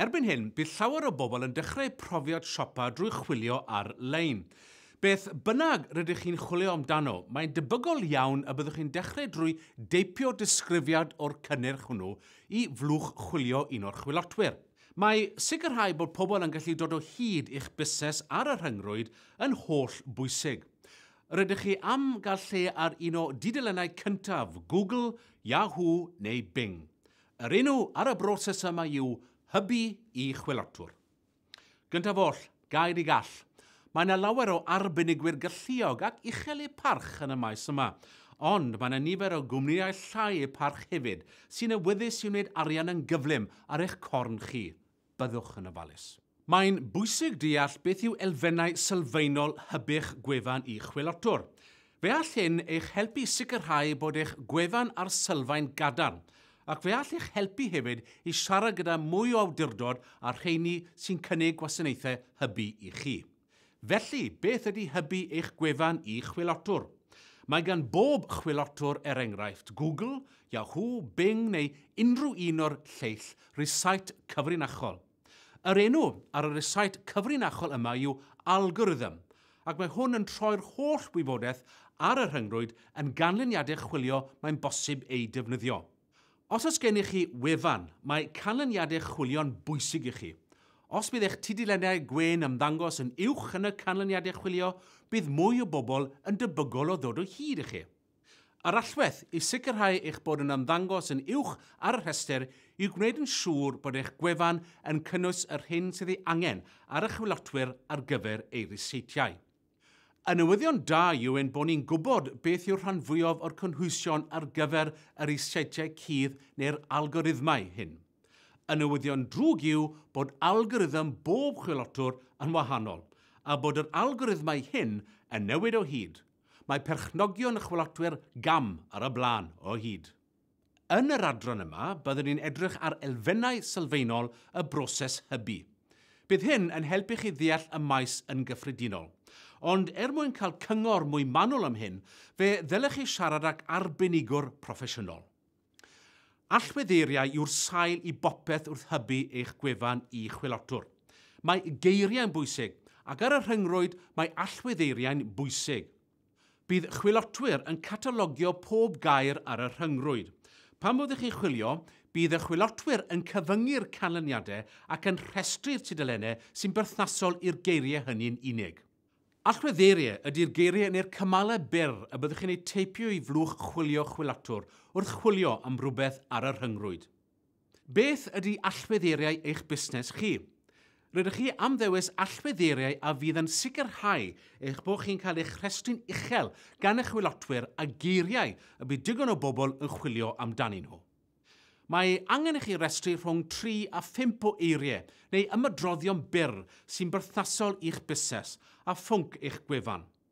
Erbyn hyn, bydd llawer o bobl yn dechrau profiad siopa drwy chwilio ar-lein. Beth bynnag rydych chi'n chwilio amdano, mae'n debygol iawn y byddwch chi'n dechrau drwy deipio disgrifiad o'r cynnyrch hwnnw i flwch chwilio un o'r chwilotwyr. Mae sicrhau bod pobl yn gallu dod o hyd i'ch busnes ar y rhyngrwyd yn holl bwysig. Rydych chi am gael lle ar un o dudalennau cyntaf Google, Yahoo neu Bing. Yr enw ar y broses yma yw hybu i chwilotwr. Gyntaf oll, gair i gall. Mae yna lawer o arbenigwyr galluog ac uchel eu parch yn y maes yma, ond mae yna nifer o gwmnïau llai eu parch hefyd sy'n awyddus i wneud arian yn gyflym ar eich corn chi. byddwch yn ofalus. Mae'n bwysig deall beth yw elfennau sylfaenol hyb'ych gwefan i'ch chwilotwr. Fe all hyn eich helpu i sicrhau bod eich gwefan ar sylfaen gadarn, ac fe all eich helpu hefyd i siarad gyda mwy o awdurdod a'r rheini sy'n cynnig gwasanaethau hybu i chi. Felly, beth ydy hybu eich gwefan i chwilotwr? Mae gan bob chwilotwr, er enghraifft, Google, Yahoo, Bing neu unrhyw un o'r lleill rysait cyfrinachol. Yr enw ar y rysait cyfrinachol yma yw algorithm, ac mae hwn yn troi'r holl wybodaeth ar y rhyngrwyd yn ganlyniadau chwilio mae'n bosib eu defnyddio. Os oes gennych chi wefan, mae canlyniadau chwilio'n bwysig i chi. Os bydd eich tudalennau gwên yn ymddangos yn uwch yn y canlyniadau chwilio, bydd mwy o bobl yn debygol o ddod o hyd i chi. Yr allwedd i sicrhau eich bod yn ymddangos yn uwch ar y rhestr yw gwneud yn siŵr bod eich gwefan yn cynnwys yr hyn sydd ei angen ar y chwilotwyr ar gyfer eu ryseitiau. Y newyddion da yw ein bod ni'n gwybod beth yw'r rhan fwyaf o'r cynhwysion ar gyfer yr is-setiau cudd neu'r algorithmau hyn. Y newyddion drwg yw bod algorithm bob chwilotwr yn wahanol, a bod yr algorithmau hyn yn newid o hyd. Mae perchnogion y chwilotwyr gam ar y blaen o hyd. Yn yr adran yma, byddwn ni'n edrych ar elfennau sylfaenol y broses hybu. Bydd hyn yn helpu chi ddeall y maes yn gyffredinol. Ond er mwyn cael cyngor mwy manwl am hyn, fe ddylech chi siarad ag arbenigwr proffesiynol. Allweddeiriau yw'r sail i bopeth wrth hybu eich gwefan i chwilotwr. Mae geiriau'n bwysig, ac ar y rhyngrwyd mae allweddeiriau'n bwysig. Bydd chwilotwyr yn catalogio pob gair ar y rhyngrwyd. Pan fod chi'n chwilio, bydd y chwilotwyr yn cyfyngu'r canlyniadau ac yn rhestru'r tudalennau sy'n berthnasol i'r geiriau hynny'n unig. Allweddeiriau ydy'r geiriau neu'r cymalau byr y byddwch chi'n eu teipio i flwch chwilio chwilotwr wrth chwilio am rywbeth ar y rhyngrwyd. Beth ydy allweddeiriau eich busnes chi? Rydych chi am ddewis allweddeiriau a fydd yn sicrhau eich bod chi'n cael eich rhestru'n uchel gan eich chwilotwyr a geiriau y bydd digon o bobl yn chwilio amdanyn nhw. Mae angen i chi restru rhwng tri a phump o eiriau neu ymadroddion byr sy'n berthnasol i'ch busnes a phwnc eich gwefan.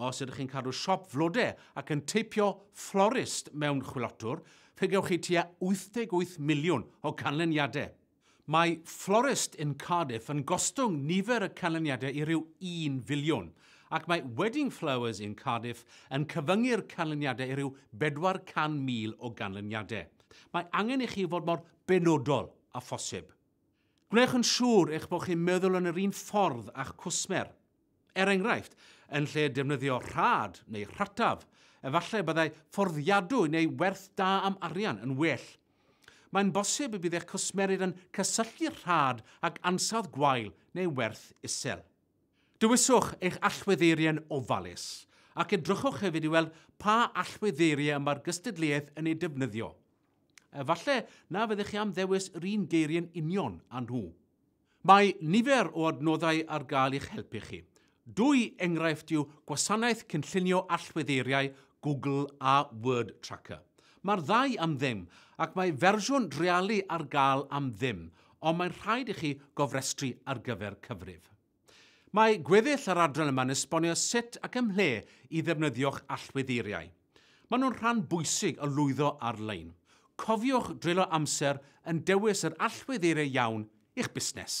Os ydych chi'n cadw siop flode ac yn teipio florist mewn chwilotwr, fe gewch chi tua 88 miliwn o ganlyniadau. Mae florist yn Cardiff yn gostwng nifer y canlyniadau i ryw un filiwn, ac mae Wedding Flowers yn Cardiff yn cyfyngu'r canlyniadau i ryw 400,000 o ganlyniadau. Mae angen i chi fod mor benodol â phosib. Gwnewch yn siŵr eich bod chi'n meddwl yn yr un ffordd â'ch cwsmer. Er enghraifft, yn lle defnyddio rhad neu rhataf, efallai y byddai fforddiadwy neu werth da am arian yn well. Mae'n bosib y bydd eich cwsmerydd yn cysylltu rhad ag ansawdd gwael neu werth isel. Dewiswch eich allweddeiriau'n ofalus, ac edrychwch hefyd i weld pa allweddeiriau y mae'r gystadleuaeth yn eu defnyddio. Efallai na fyddech chi am ddewis yr un geiriau'n union â nhw. Mae nifer o adnoddau ar gael i'ch helpu chi. Dwy enghraifft yw gwasanaeth cynllunio allweddeiriau Google a Word Tracker. Mae'r ddau am ddim, ac mae fersiwn drealu ar gael am ddim, ond mae'n rhaid i chi gofrestru ar gyfer cyfrif. Mae gweddill yr adran yma'n esbonio sut ac ymhle i ddefnyddio'ch allweddeiriau. Maen nhw'n rhan bwysig o lwyddo ar-lein. Cofiwch dreulio amser yn dewis yr allweddeiriau iawn i'ch busnes.